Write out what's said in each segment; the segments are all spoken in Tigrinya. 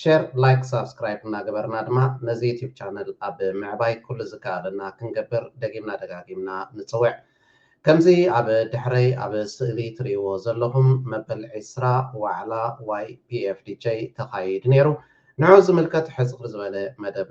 ሼር ላይክ ሳብስክራይብ እናገበርና ድማ ነዚ ዩቱብ ቻነል ኣብ ምዕባይ ኩሉ ዝከኣለና ክንገብር ደጊምና ደጋጊምና ንፅውዕ። ከምዚ ኣብ ድሕረይ ኣብ ስእሊ ትሪእዎ ዘለኹም መበል ዕስራ ዋዕላ YPFDJ ተኻይድ ነይሩ። ንዑኡ ዝምልከት ሕፅር ዝበለ መደብ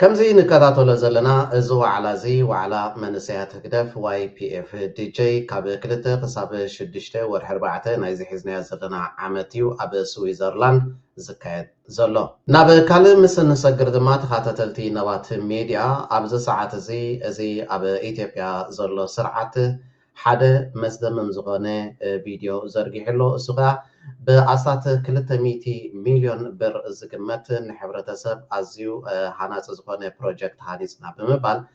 ከምዚ ንከታተሎ ዘለና እዚ ዋዕላ እዚ ዋዕላ መንእሰያት ህግደፍ YPF DJ ካብ ክልተ ክሳብ ሽዱሽተ ወርሒ ኣርባዕተ ናይዚ ሒዝናዮ ዘለና ዓመት እዩ ኣብ ስዊዘርላንድ ዝካየድ። ዘሎ። ናብ ካልእ ምስ እንሰግር ድማ ተኻታተልቲ ነባት ሜድያ ኣብዚ ሰዓት እዚ እዚ ኣብ ኢትዮጵያ ዘሎ ስርዓት ሓደ መስደምም ዝኾነ ቪድዮ ዘርጊሑ ኣሎ እሱ ከኣ ብኣስታት ክልተ ሚእቲ ሚልዮን ብር ዝግመት ንሕብረተሰብ ኣዝዩ ሃናጺ ዝኾነ ፕሮጀክት ሃኒጽና ብምባል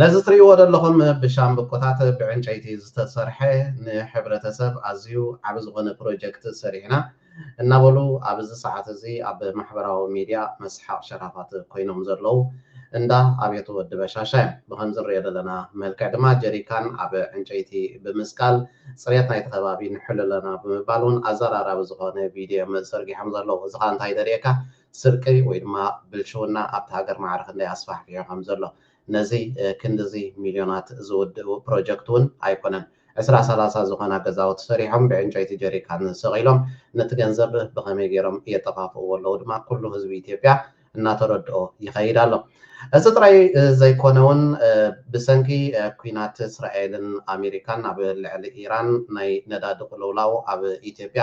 ነዚ ትርእይዎ ዘለኹም ብሻምብቆታት ብዕንጨይቲ ዝተሰርሐ ንሕብረተሰብ ኣዝዩ ዓቢ ዝኾነ ፕሮጀክት ሰሪሕና እናበሉ ኣብ እዚ ሰዓት እዚ ኣብ ማሕበራዊ ሚድያ መስሓቕ ሸራፋት ኮይኖም ዘለዉ እንዳ ኣብየት ወዲ በሻሻ እዮም። ብኸምዚ ንርእዮ ዘለና መልክዕ ድማ ጀሪካን ኣብ ዕንጨይቲ ብምስቃል ጽሬት ናይቲ ከባቢ ንሕሉ ኣለና ብምባል እውን ኣዘራራቢ ዝኾነ ቪድዮ እዮም ዘርጊሖም ዘለዉ። እዚ ከኣ እንታይ ደልየካ ስርቂ ወይ ድማ ብልሽውና ኣብታ ሃገር ማዕረ ክንደይ ኣስፋሕፊሑ ከም ዘሎ። ነዚ ክንድዚ ሚልዮናት ዝውድኡ ፕሮጀክት እውን ኣይኮነን። ዕስራ ሰላሳ ዝኾና ገዛውቲ ሰሪሖም ብዕንጨይቲ ጀሪካን ሰቒሎም ነቲ ገንዘብ ብኸመይ ገይሮም የጠፋፍእዎ ኣለዉ ድማ ኩሉ ህዝቢ ኢትዮጵያ እናተረድኦ ይኸይድ ኣሎ። እዚ ጥራይ ዘይኮነ እውን ብሰንኪ ኲናት እስራኤልን ኣሜሪካን ኣብ ልዕሊ ኢራን ናይ ነዳዲ ቅልውላው ኣብ ኢትዮጵያ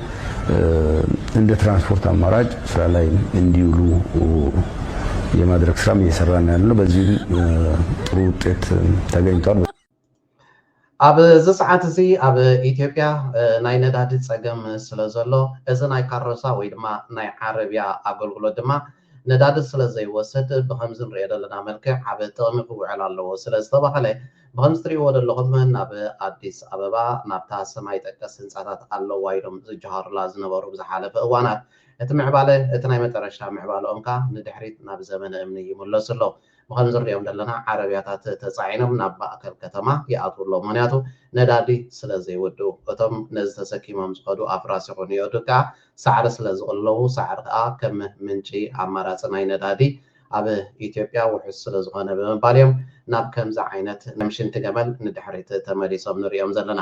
እንደ ትራንስፖርት አማራጭ ስራ ላይ እንዲውሉ የማድረግ ስራም እየሰራን ያለ ነው። በዚህም ጥሩ ውጤት ተገኝቷል። ኣብ እዚ ሰዓት እዚ ኣብ ኢትዮጵያ ናይ ነዳዲ ፀገም ስለ ዘሎ እዚ ናይ ካሮሳ ወይ ድማ ናይ ዓረብያ ኣገልግሎት ድማ ነዳዲ ስለዘይወስድ ብኸምዚ ንርእዮ ደለና መልክዕ ኣብ ጥቕሚ ክውዕል ኣለዎ ስለዝተባህለ ብኸምዚ ትርእይዎ ደለኹም ናብ ኣዲስ ኣበባ ናብታ ሰማይ ጠቀስ ህንጻታት ኣለዋ ኢሎም ዝጀሃሩላ ዝነበሩ ብዝሓለፈ እዋናት እቲ ምዕባለ እቲ ናይ መጠረሽታ ምዕባለኦምካ ንድሕሪት ናብ ዘመነ እምኒ ይምለሱ ኣለዉ። ብከምዚ እንሪኦም ዘለና ዓረብያታት ተጻዒኖም ናብ ማእከል ከተማ ይኣትዉ ኣለዉ ምክንያቱ ነዳዲ ስለ ዘይውድኡ። እቶም ነዚ ተሰኪሞም ዝከዱ ኣፍራስ ይኩን የእዱግ ከኣ ሳዕሪ ስለ ዝቅልለቡ ሳዕሪ ከኣ ከም ምንጪ ኣማራጺ ናይ ነዳዲ ኣብ ኢትዮጵያ ውሑስ ስለ ዝኮነ ብምባል እዮም ናብ ከምዚ ዓይነት ከም ሽንቲ ገመል ንድሕሪት ተመሊሶም ንሪኦም ዘለና።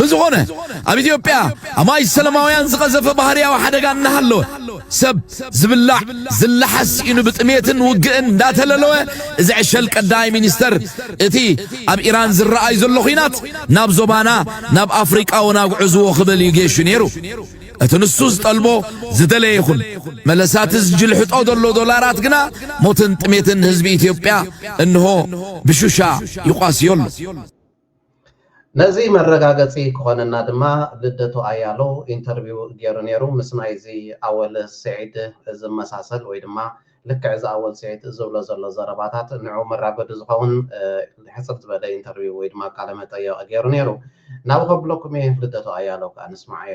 ብዝኾነ ኣብ ኢትዮጵያ ኣማይ ሰለማውያን ዝቐዘፈ ባህርያዊ ሓደጋ እናሃለወ ሰብ ዝብላዕ ዝለሓስ ሲኢኑ ብጥሜትን ውግእን እንዳተለለወ እዚ ዕሸል ቀዳማይ ሚኒስተር እቲ ኣብ ኢራን ዝረኣዩ ዘሎ ኹናት ናብ ዞባና ናብ ኣፍሪቃ እውን ኣጉዕዝዎ ክብል እዩ ጌሹ ነይሩ እቲ ንሱ ዝጠልቦ ዝደለየ ይኹን መለሳት ዝጅልሕጦ ዘሎ ዶላራት ግና ሞትን ጥሜትን ህዝቢ ኢትዮጵያ እንሆ ብሹሻ ይቋስዮ ኣሎ ነዚ መረጋገጺ ክኾነና ድማ ልደቱ ኣያሎው ኢንተርቪው ጌሩ ኔሩ ምስ ናይዚ ኣወል ሲዒድ ዝመሳሰል ወይ ድማ ልክዕ እዚ ኣወል ሲዒድ ዝብሎ ዘሎ ዘረባታት ንዑ መራገዱ ዝኸውን ሕጽር ዝበለ ኢንተርቪው ወይ ድማ ቃለ መጠየቕ ጌሩ ኔሩ ናብ ከብለኩም እየ ልደቱ ኣያሎው ክኣ ንስምዓዮ።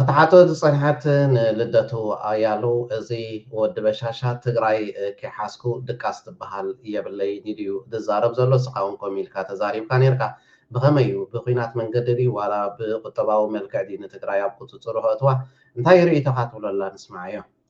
ክትሓቶ ዝፀንሐት ንልደቱ ኣያሉ እዚ ወዲ በሻሻ ትግራይ ከይሓዝኩ ድቃስ ትበሃል የብለይን ኢሉ እዩ ዝዛረብ ዘሎ እስኻ እውን ከምኡ ኢልካ ተዛሪብካ ነይርካ ብኸመይ እዩ ብኩናት መንገዲ ድዩ ዋላ ብቁጠባዊ መልክዕ ድዩ ንትግራይ ኣብ ቁፅፅሩ ከእትዋ እንታይ እዩ ርኢቶኻ ትብሎ ኣላ ንስምዓዮ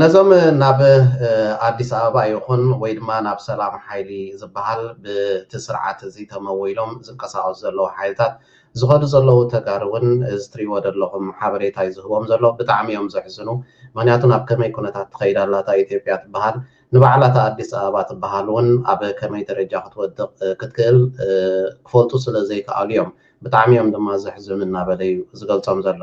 ነዞም ናብ ኣዲስ ኣበባ ይኹን ወይ ድማ ናብ ሰላም ሓይሊ ዝበሃል ብቲ ስርዓት እዚ ተመዊሎም ዝንቀሳቐሱ ዘለዉ ሓይልታት ዝኸዱ ዘለዉ ተጋሩ እውን እዚ ትሪእዎ ዘለኹም ሓበሬታ እዩ ዝህቦም ዘሎ ብጣዕሚ እዮም ዘሕዝኑ ምክንያቱ ናብ ከመይ ኩነታት ትኸይድ ኣላ እታ ኢትዮጵያ ትበሃል ንባዕላ እታ ኣዲስ ኣበባ ትበሃል እውን ኣብ ከመይ ደረጃ ክትወድቕ ክትክእል ክፈልጡ ስለ ዘይከኣሉ እዮም ብጣዕሚ እዮም ድማ ዘሕዝኑ እናበለ እዩ ዝገልፆም ዘሎ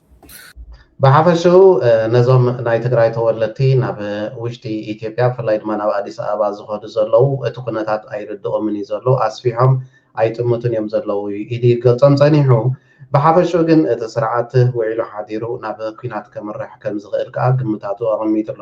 ብሓፈሽኡ ነዞም ናይ ትግራይ ተወለድቲ ናብ ውሽጢ ኢትዮጵያ ብፍላይ ድማ ናብ ኣዲስ ኣበባ ዝኸዱ ዘለዉ እቲ ኩነታት ኣይርድኦምን እዩ ዘሎ፣ ኣስፊሖም ኣይጥምቱን እዮም ዘለዉ ኢሉ ይገልጾም ጸኒሑ። ብሓፈሽኡ ግን እቲ ስርዓት ውዒሉ ሓዲሩ ናብ ኲናት ከምርሕ ከምዝኽእል ከኣ ግምታቱ ኣቐሚጡ ኣሎ።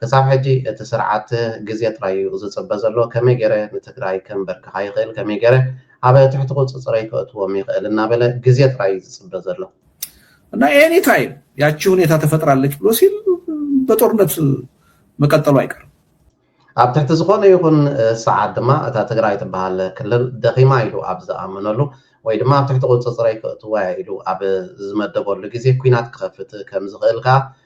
ክሳብ ሕጂ እቲ ስርዓት ግዜ ጥራይ ዩ ዝጽበ ዘሎ ከመይ ጌረ ንትግራይ ከምበርክኻ ይኽእል ከመይ ጌረ ኣብ ትሕቲ ቁጽጽረይ ከእትዎም ይኽእል እናበለ ግዜ ጥራይ ዩ ዝጽበ ዘሎ። እና ኤኒ ታይም ያቺ ሁኔታ ተፈጥራለች ብሎ ሲል በጦርነት መቀጠሉ አይቀርም። ኣብ ትሕቲ ዝኾነ ይኹን ሰዓት ድማ እታ ትግራይ ትበሃል ክልል ደኺማ ኢሉ ኣብ ዝኣመነሉ ወይ ድማ ኣብ ትሕቲ ቁጽጽረይ ከእትዋ እየ ኢሉ ኣብ ዝመደበሉ ግዜ ኩናት ክኸፍት ከም ዝኽእል ከኣ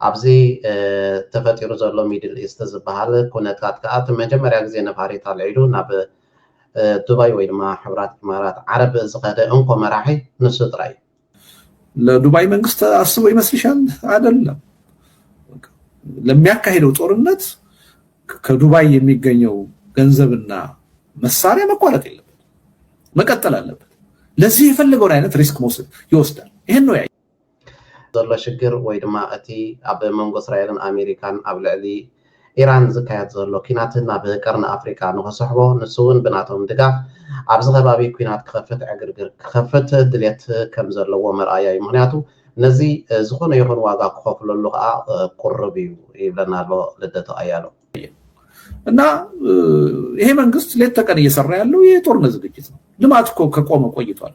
ኣብዚ ተፈጢሩ ዘሎ ሚድል ኢስት ዝበሃል ኩነታት ከኣ እቲ መጀመርያ ግዜ ነፋሪት ኣልዒሉ ናብ ዱባይ ወይ ድማ ሕቡራት ኢማራት ዓረብ ዝኸደ እንኮ መራሒ ንሱ ጥራይ እዩ። ለዱባይ መንግስት አስቦ ይመስልሻል? አይደለም። ለሚያካሄደው ጦርነት ከዱባይ የሚገኘው ገንዘብና መሳሪያ መቋረጥ የለበት፣ መቀጠል አለበት። ለዚህ የፈለገውን አይነት ሪስክ መውሰድ ይወስዳል። ይህን ነው ዘሎ ሽግር ወይ ድማ እቲ ኣብ መንጎ እስራኤልን ኣሜሪካን ኣብ ልዕሊ ኢራን ዝካየድ ዘሎ ኲናት ናብ ቀርኒ ኣፍሪቃ ንኽስሕቦ ንሱ'ውን ብናቶም ድጋፍ ኣብዚ ከባቢ ኲናት ክኸፍት ዕግርግር ክኸፍት ድሌት ከም ዘለዎ መርኣያ'ዩ ምኽንያቱ ነዚ ዝኾነ ይኹን ዋጋ ክኸፍለሉ ከኣ ቁሩብ'ዩ ይብለና ኣሎ ልደቱ ኣያለው። እና ይሄ መንግስት ሌት ተቀን እየሰራ ያለው የጦርነት ዝግጅት ነው። ልማት እኮ ከቆመ ቆይቷል።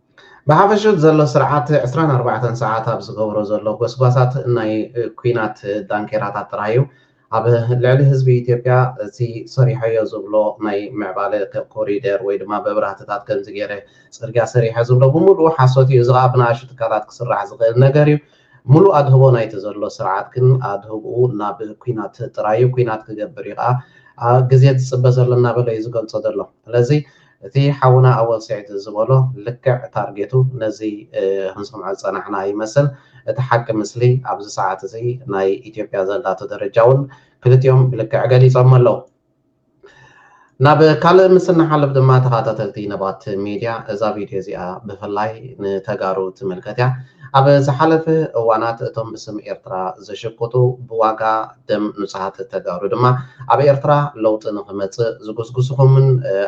ብሓፈሹ እቲ ዘሎ ስርዓት ዕስራን ኣርባዕተን ሰዓት ኣብ ዝገብሮ ዘሎ ጎስጓሳት ናይ ኩናት ዳንኬራታት ጥራይ እዩ ኣብ ልዕሊ ህዝቢ ኢትዮጵያ እቲ ሰሪሖዮ ዝብሎ ናይ ምዕባለ ኮሪደር ወይ ድማ መብራህትታት ከምዚ ገይረ ፅርግያ ሰሪሐ ዝብሎ ብምሉኡ ሓሶት እዩ እዚ ከዓ ብንኣሽቱ ትካላት ክስራሕ ዝኽእል ነገር እዩ ሙሉእ ኣድህቦ ናይቲ ዘሎ ስርዓት ግን ኣድህብኡ ናብ ኩናት ጥራዩ ኩናት ክገብር እዩ ከዓ ግዜ ዝፅበ ዘሎ እናበለ እዩ ዝገልፆ ዘሎ ስለዚ እቲ ሓውና ኣወል ስዒድ ዝበሎ ልክዕ ታርጌቱ ነዚ ክንሰምዖ ዝጸናሕና ይመስል። እቲ ሓቂ ምስሊ ኣብዚ ሰዓት እዚ ናይ ኢትዮጵያ ዘላቶ ደረጃ ውን ክልቲኦም ብልክዕ ገሊጾሞ ኣለዉ። ናብ ካልእ ምስ እንሓልፍ ድማ ተኻታተልቲ ነባት ሜድያ እዛ ቪድዮ እዚኣ ብፍላይ ንተጋሩ ትምልከት እያ። ኣብ ዝሓለፈ እዋናት እቶም ብስም ኤርትራ ዝሽቁጡ ብዋጋ፣ ደም ንጹሃት ተጋሩ ድማ ኣብ ኤርትራ ለውጢ ንኽመጽእ ዝጉስጉሱኹምን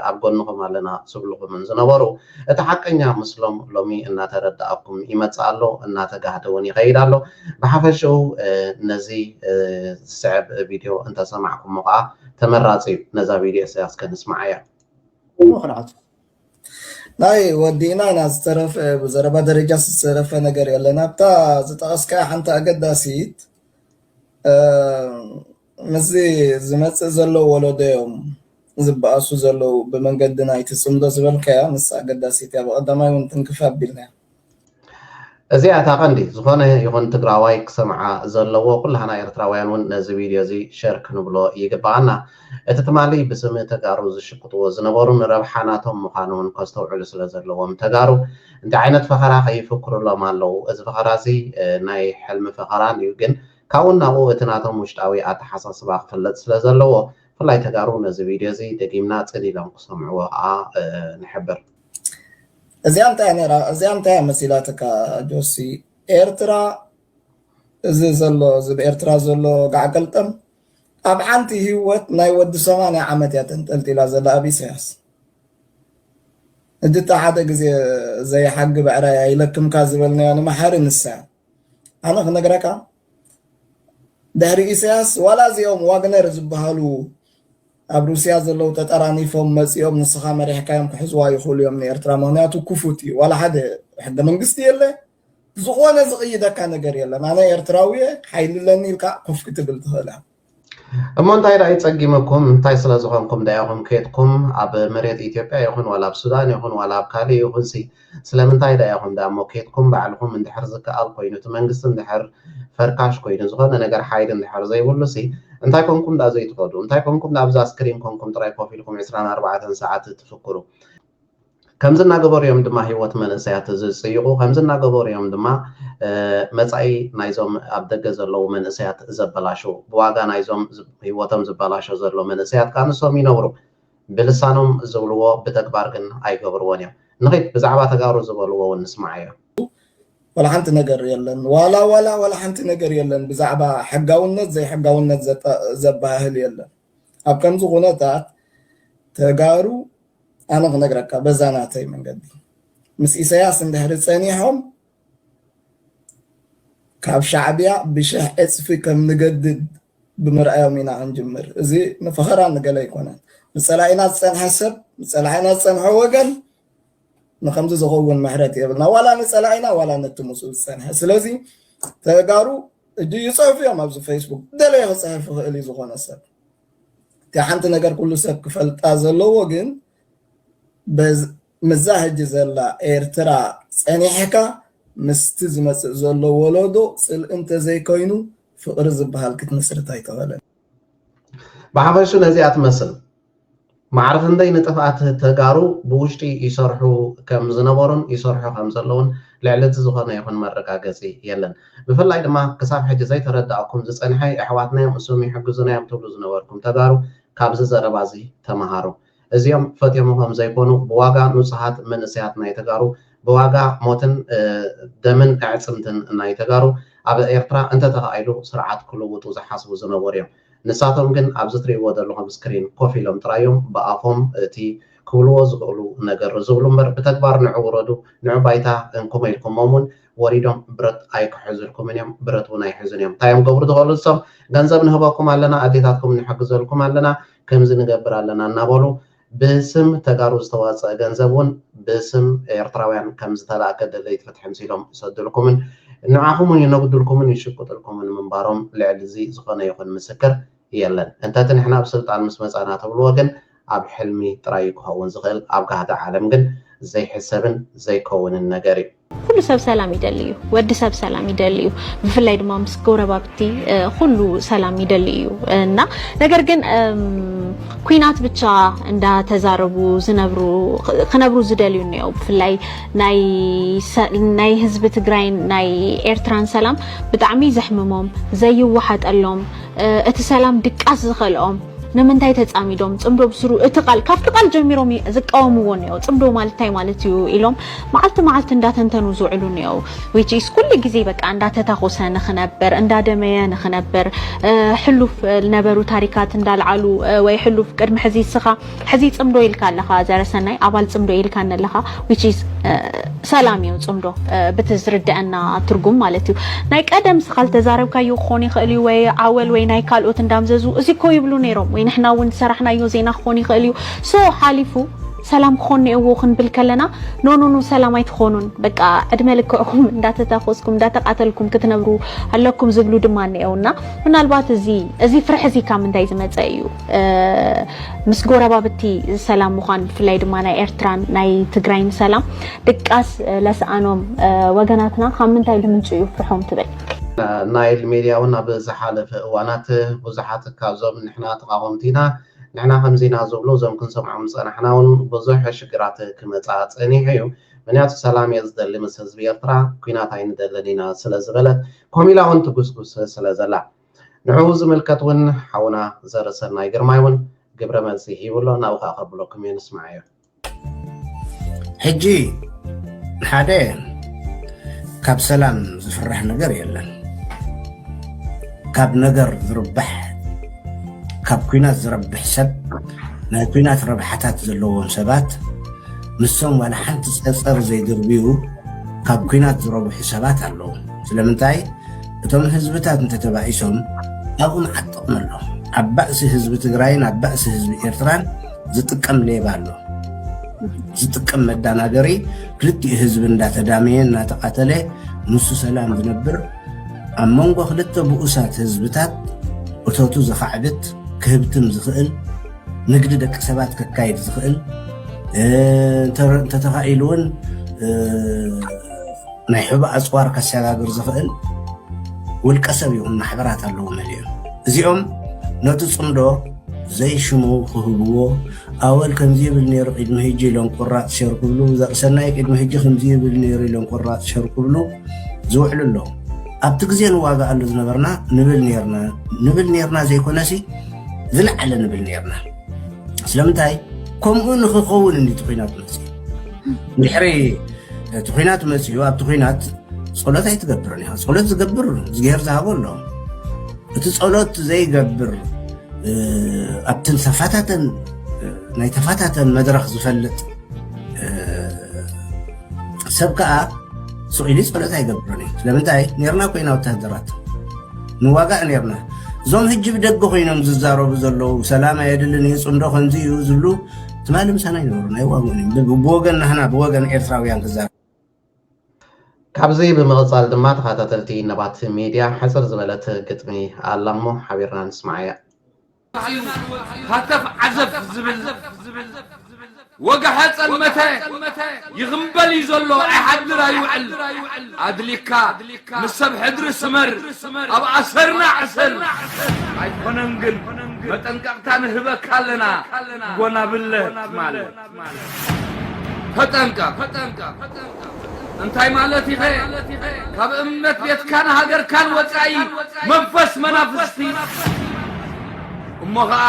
ኣብ ጎንኹም ኣለና ዝብሉኹምን ዝነበሩ እቲ ሓቀኛ ምስሎም ሎሚ እናተረደኣኩም ይመጽእ ኣሎ እናተጋህደ ውን ይኸይድ ኣሎ ብሓፈሽኡ ነዚ ዝስዕብ ቪድዮ እንተሰማዕኩሞ ከኣ ተመራጺ እዩ ነዛ ቪድዮ እዚኣ እስከ ንስምዓያ ምኽንያቱ ናይ ወዲእና ኢና ዝተረፈ ብዘረባ ደረጃ ዝተረፈ ነገር የለን ኣብታ ዝጠቐስካያ ሓንቲ ኣገዳሲት ምስዚ ዝመጽእ ዘሎ ወለዶ እዮም ዝበኣሱ ዘለዉ ብመንገዲ ናይቲ ጽምዶ ዝበልካያ ንሳ ኣገዳሲት እያ ብቐዳማይ እውን ትንክፍ ኣቢልናያ እዚኣ እታ ቀንዲ ዝኾነ ይኹን ትግራዋይ ክሰምዓ ዘለዎ ኩላህና ኤርትራውያን እውን ነዚ ቪድዮ እዚ ሸር ክንብሎ ይግበኣና እቲ ትማሊ ብስም ተጋሩ ዝሽቅጥዎ ዝነበሩ ንረብሓ ናቶም ምዃኑ ውን ከስተውዕሉ ስለ ዘለዎም ተጋሩ እንታይ ዓይነት ፈኸራ ከይፍክሩሎም ኣለዉ እዚ ፈኸራ እዚ ናይ ሕልሚ ፈኸራን እዩ ግን ካብኡ ናብኡ እቲ ናቶም ውሽጣዊ ኣተሓሳስባ ክፍለጥ ስለ ዘለዎ ብፍላይ ተጋሩ ነዚ ቪድዮ እዚ ደጊምና ጽን ኢሎም ክሰምዕዎ ከኣ ንሕብር። እዚኣ እንታይ እያ ነይራ እዚኣ እንታይ እያ መሲላትካ ጆሲ ኤርትራ እዚ ዘሎ እዚ ብ ኤርትራ ዘሎ ጋዕገልጠም ኣብ ሓንቲ ሂወት ናይ ወዲ ሰማንያ ዓመት እያ ተንጠልጢላ ዘላ ኣብ ኢሰያስ እድታ ሓደ ግዜ ዘይሓጊ ብዕራይ ኣይለክምካ ዝበልናዮ ንመሓሪ ንሳ እያ ኣነ ክነግረካ ድሕሪ ኢሰያስ ዋላ እዚኦም ዋግነር ዝበሃሉ ኣብ ሩስያ ዘለው ተጠራኒፎም መፂኦም ንስኻ መሪሕካዮም ክሕዝዋ ይኽእሉ እዮም ንኤርትራ ምክንያቱ ክፉት እዩ ዋላ ሓደ ሕገ መንግስቲ የለ ብዝኾነ ዝቕይደካ ነገር የለን ኣነ ኤርትራዊ እየ ሓይሊ ኣለኒ ኢልካ ኮፍ ክትብል ትኽእል ኢኻ። እሞ እንታይ ደኣ ይጸጊመኩም እንታይ ስለ ዝኾንኩም ደኣ ኢኹም ኬድኩም ኣብ መሬት ኢትዮጵያ ይኹን ዋላ ኣብ ሱዳን ይኹን ዋላ ኣብ ካልእ ይኹንሲ ስለምንታይ ደኣ ኢኹም ደኣ እሞ ኬድኩም ባዕልኹም እንድሕር ዝከኣል ኮይኑ እቲ መንግስቲ እንድሕር ፈርካሽ ኮይኑ ዝኾነ ነገር ሓይሊ እንድሕር ዘይብሉሲ እንታይ ኮንኩም ደኣ ዘይትኸዱ እንታይ ኮንኩም ደኣ ኣብዛ ስክሪን ኮንኩም ጥራይ ኮፍ ኢልኩም ዕስራን ኣርባዕተን ሰዓት ትፍክሩ ከምዚ እናገበሩ እዮም ድማ ህይወት መንእሰያት ዝጽይቑ፣ ከምዚ እናገበሩ እዮም ድማ መጻኢ ናይዞም ኣብ ደገ ዘለዉ መንእሰያት ዘበላሽዉ። ብዋጋ ናይዞም ህይወቶም ዝበላሾ ዘሎ መንእሰያት ከኣ ንሶም ይነብሩ። ብልሳኖም ዝብልዎ ብተግባር ግን ኣይገብርዎን እዮም። ንኺድ ብዛዕባ ተጋሩ ዝበልዎ እውን ንስምዓዮ። ዋላ ሓንቲ ነገር የለን። ዋላ ዋላ ዋላ ሓንቲ ነገር የለን ብዛዕባ ሕጋውነት ዘይሕጋውነት ዘበሃህል የለን። ኣብ ከምዚ ኩነታት ተጋሩ ኣነ ክነግረካ በዛ ናተይ መንገዲ ምስ ኢሰያስ እንድሕሪ ጸኒሖም ካብ ሻዕብያ ብሽሕ ዕጽፊ ከም ንገድድ ብምርኣዮም ኢና ክንጅምር እዚ ንፈኸራ ንገለ ኣይኮነን ንጸላኢና ዝጸንሐ ሰብ ንጸላኢና ዝጸንሐ ወገን ንከምዚ ዝኸውን ምሕረት የብልና ዋላ ንጸላኢና ዋላ ነቲ ምስኡ ዝጸንሐ ስለዚ ተጋሩ እጂ ይጽሕፉ እዮም ኣብዚ ፌስቡክ ደለየ ክጽሕፍ ይኽእል እዩ ዝኾነ ሰብ እቲ ሓንቲ ነገር ኩሉ ሰብ ክፈልጣ ዘለዎ ግን ምዛ ሕጂ ዘላ ኤርትራ ጸኒሕካ ምስቲ ዝመጽእ ዘሎ ወለዶ ጽልኢ እንተዘይኮይኑ ፍቕሪ ዝበሃል ክትምስርት ኣይተኸለን ብሓፈሹ ነዚኣ ትመስል ማዕረ ክንደይ ንጥፍኣት ተጋሩ ብውሽጢ ይሰርሑ ከም ዝነበሩን ይሰርሑ ከም ዘለዉን ልዕሊ እቲ ዝኾነ ይኹን መረጋገጺ የለን። ብፍላይ ድማ ክሳብ ሕጂ ዘይተረደኣኩም ዝጸንሐ የሕዋትናዮም እሶም ይሕግዙናዮም ትብሉ ዝነበርኩም ተጋሩ ካብዚ ዘረባዚ ተመሃሩ። እዚኦም ፈትዮሞ ከም ዘይኮኑ ብዋጋ ኑጹሃት መንእሰያት ናይ ተጋሩ ብዋጋ ሞትን ደምን ኣዕጽምትን ናይ ተጋሩ ኣብ ኤርትራ እንተተኻኢሉ ስርዓት ክልውጡ ዝሓስቡ ዝነበሩዮም። ንሳቶም ግን ኣብዚ ትሪእዎ ዘለኹም ስክሪን ኮፍ ኢሎም ጥራይ እዮም ብኣፎም እቲ ክብልዎ ዝኽእሉ ነገር ዝብሉ እምበር ብተግባር ንዑ ውረዱ ንዑ ባይታ እንኩሞ ኢልኩሞም እውን ወሪዶም ብረት ኣይክሕዙልኩምን እዮም ብረት እውን ኣይሕዙን እዮም እንታይ እዮም ክገብሩ ዝኽእሉ ንሶም ገንዘብ ንህበኩም ኣለና ኣዴታትኩም ንሕግዘልኩም ኣለና ከምዚ ንገብር ኣለና እናበሉ ብስም ተጋሩ ዝተዋፀኣ ገንዘብ እውን ብስም ኤርትራውያን ከምዝተላእከ ደለይቲ ፍትሒ ምሲሎም ይሰዱልኩምን ንዓኹምውን ይነጉዱልኩምን ይሽቁጡልኩምን ምንባሮም ልዕሊ እዚ ዝኾነ ይኹን ምስክር የለን። እንተቲ ንሕና ኣብ ስልጣን ምስ መፃእና ትብልዎ ግን ኣብ ሕልሚ ጥራይ እዩ ክኸውን ዝኽእል ኣብ ጋህዲ ዓለም ግን ዘይሕሰብን ዘይከውንን ነገር እዩ። ኩሉ ሰብ ሰላም ይደሊ እዩ ወዲ ሰብ ሰላም ይደሊ እዩ ብፍላይ ድማ ምስ ጎረባብቲ ኩሉ ሰላም ይደሊ እዩ እና ነገር ግን ኩናት ብቻ እንዳተዛረቡ ዝነብሩ ክነብሩ ዝደልዩ እኒኦ ብፍላይ ናይ ህዝቢ ትግራይን ናይ ኤርትራን ሰላም ብጣዕሚ ዘሕምሞም ዘይወሓጠሎም እቲ ሰላም ድቃስ ዝኸልኦም ንምንታይ ተፃሚዶም ፅምዶ ብስሩ እቲ ቃል ካብቲ ቃል ጀሚሮም ዝቃወምዎ እኒኦ ፅምዶ ማለት እንታይ ማለት እዩ ኢሎም መዓልቲ መዓልቲ እንዳተንተኑ ዝውዕሉ እኒኦው which is ኩሉ ግዜ በቃ እንዳተታኾሰ ንክነብር እንዳደመየ ንክነብር ሕሉፍ ዝነበሩ ታሪካት እንዳልዓሉ ወይ ሕሉፍ ቅድሚ ሕዚ እስኻ ሕዚ ፅምዶ ኢልካ ኣለኻ ዘረሰናይ ኣባል ፅምዶ ኢልካ ኣለኻ which is ሰላም እዩ ፅምዶ ብቲ ዝርደአና ትርጉም ማለት እዩ ናይ ቀደም እስኻ ዝተዛረብካዮ ክኾን ይኽእል እዩ ወይ ዓወል ወይ ናይ ካልኦት እንዳምዘዙ እዚ እኮ ይብሉ ነይሮም ወይ ንሕና እውን ዝሰራሕናዮ ዜና ክኾን ይኽእል እዩ ሶ ሓሊፉ ሰላም ክኾን ኔእዎ ክንብል ከለና ኖኖኖ ሰላም ኣይትኾኑን በቃ ዕድመ ልክዕኹም እንዳተታኾስኩም እንዳተቃተልኩም ክትነብሩ ኣለኩም ዝብሉ ድማ እኔኤው እና ምናልባት እዚ እዚ ፍርሒ እዚ ካብ ምንታይ ዝመፀ እዩ ምስ ጎረባብቲ ሰላም ምዃን ብፍላይ ድማ ናይ ኤርትራን ናይ ትግራይን ሰላም ድቃስ ለስኣኖም ወገናትና ካብ ምንታይ ልምንጩ እዩ ፍርሖም ትብል ናይል ሜድያ እውን ኣብ ዝሓለፈ እዋናት ብዙሓት ካብዞም ንሕና ተቃወምቲ ኢና ንሕና ከምዚ ኢና ዝብሉ እዞም ክንሰምዖም ዝጸናሕና ውን ብዙሕ ሽግራት ክመጻ ጸኒሑ እዩ ምንያቱ ሰላም እየ ዝደሊ ምስ ህዝቢ ኤርትራ ኩናት ኣይንደልን ኢና ስለ ዝበለት ኮም ኢላ ውን ትጉስጉስ ስለ ዘላ ንዕኡ ዝምልከት ውን ሓውና ዘርእሰናይ ግርማይ ውን ግብረ መልሲ ሂቡ ኣሎ ናብኡ ከኣ ከብሎኩም እየ ንስማዓዮ። ሕጂ ሓደ ካብ ሰላም ዝፍራሕ ነገር የለን ካብ ነገር ዝርባሕ ካብ ኩናት ዝረብሕ ሰብ ናይ ኩናት ረብሓታት ዘለዎም ሰባት ንሶም ዋላ ሓንቲ ፀፀር ዘይድርብዩ ካብ ኩናት ዝረብሑ ሰባት ኣለዉ ስለምንታይ እቶም ህዝብታት እንተተባኢሶም ኣብኡ መዓት ጥቕሚ ኣሎ ኣብ ባእሲ ህዝቢ ትግራይን ኣብ ባእሲ ህዝቢ ኤርትራን ዝጥቀም ሌባ ኣሎ ዝጥቀም መዳናገሪ ክልቲኡ ህዝቢ እንዳተዳመየ እናተቃተለ ንሱ ሰላም ዝነብር ኣብ መንጎ ክልተ ብኡሳት ህዝብታት እቶቱ ዘኻዕብት ክህብትም ዝኽእል ንግዲ ደቂ ሰባት ከካይድ ዝኽእል እንተተኻኢሉ እውን ናይ ሕቡእ ኣጽዋር ከሰጋግር ዝኽእል ውልቀ ሰብ ይኹን ማሕበራት ኣለዎ መሊኦም እዚኦም ነቲ ጽምዶ ዘይሽሙ ክህብዎ ኣወል ከምዚ ይብል ነይሩ ቅድሚ ህጂ ኢሎም ቁራጽ ሸር ክብሉ ዘርእሰናይ ቅድሚ ህጂ ከምዚ ይብል ነይሩ ኢሎም ቁራጽ ሸር ክብሉ ዝውዕሉ ኣለዉ ኣብቲ ግዜ ንዋጋኣሉ ዝነበርና ንብል ነርና ንብል ነርና ዘይኮነሲ ዝለዓለ ንብል ነርና ስለምንታይ ከምኡ ንክኸውን እንዲ እቲ ኩናት መፅእ ድሕሪ እቲ ኩናት መፅኡ ኣብቲ ኩናት ፀሎት ኣይትገብርን ኢኻ ፀሎት ዝገብር እግዚኣብሔር ዝሃቦ ኣሎ እቲ ፀሎት ዘይገብር ኣብትን ተፋታተን ናይ ተፋታተን መድረክ ዝፈልጥ ሰብ ከዓ ሱቅ ኢሉ ፀሎት ኣይገብርን እዩ ስለምንታይ ነርና ኮይና ወታደራት ንዋጋእ ነርና እዞም ህጂ ብደገ ኮይኖም ዝዛረቡ ዘለዉ ሰላም ኣየድልን እዩ ፅምዶ ከምዚ እዩ ዝብሉ ትማሊ ምሳና ይነበሩ ናይ ዋግኦም እዮም ብል ብወገን ናህና ብወገን ኤርትራውያን ክዛረብ ካብዚ ብምቕጻል ድማ ተኸታተልቲ ነባት ሚድያ ሕጽር ዝበለት ግጥሚ ኣላ እሞ ሓቢርና ንስምዓያ። ሃተፍ ዓዘፍ ዝብል ወጋሐ ጸልመተ ይኽምበል እዩ ዘሎ ኣይሓድር ኣይውዕል ኣድሊካ ምስ ሰብ ሕድሪ ስመር ኣብ ኣሰርና ዕሰል። ኣይኮነን ግን መጠንቀቕታ ንህበካ ኣለና ጎናብለ ትማል። ተጠንቀቕ እንታይ ማለት ኢኸ ካብ እምነት ቤትካን ሃገርካን ወጻኢ መንፈስ መናፍስቲ እሞ ኸኣ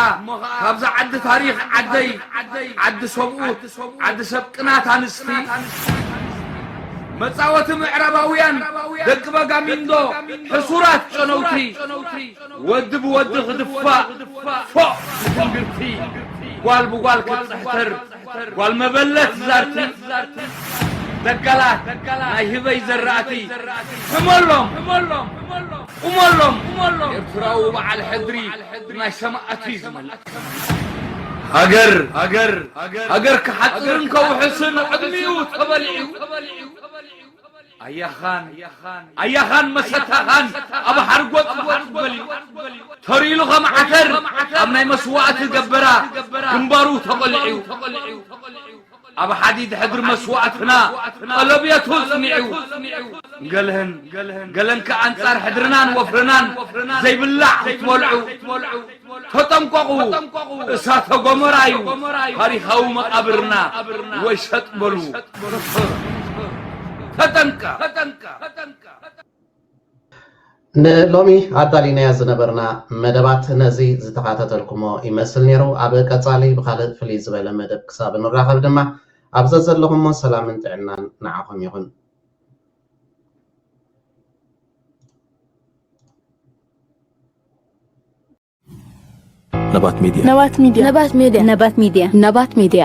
ካብዛ ዓዲ ታሪኽ ዓደይ ዓዲ ሰብኡት ዓዲ ሰብ ቅናት ኣንስቲ መጻወቲ ምዕራባውያን ደቂ በጋሚንዶ ሕሱራት ጨነውቲ ወዲ ብወዲ ክድፋእ ፎእ ትንግርቲ ጓል ብጓል ክትጽሕትር ጓል መበለት ዛርቲ ደጋላት ናይ ህበይ ዘራእቲ ሕመሎም ቁመሎም ኤርትራዊ በዓል ሕድሪ ናይ ሰማእት እዩ ዝመልእ። ሃገር ክሓጽርን ከውሕስን ዕድሚኡ ተበሊዑ። ኣያኻን መሰታኻን ኣብ ሓርጎጽ ጎጽ በልዩ። ተሪሉ ከም ዓተር ኣብ ናይ መስዋእቲ ገበራ ግንባሩ ተቖሊዑ። ኣብ ሓዲድ ሕድሪ መስዋእትና ቀለብየቱ ጽኒዑ ንገልህን ገለን ከኣ ኣንጻር ሕድርናን ወፍርናን ዘይብላዕ ክትበልዑ ተጠንቀቑ እሳተ ጎመራ እዩ ታሪኻዊ መቓብርና ወይ ሰጥ በሉ ተጠንቀ ንሎሚ ኣዳሊናዮ ዝነበርና መደባት ነዚ ዝተኻተተልኩሞ ይመስል ነይሩ። ኣብ ቀጻሊ ብኻልእ ፍልይ ዝበለ መደብ ክሳብ ንራኸብ ድማ ኣብ ዘዘለኹሞ ሰላምን ጥዕናን ንዓኹም ይኹን። ነባት ሚድያ ነባት ሚድያ ነባት ሚድያ ነባት ሚድያ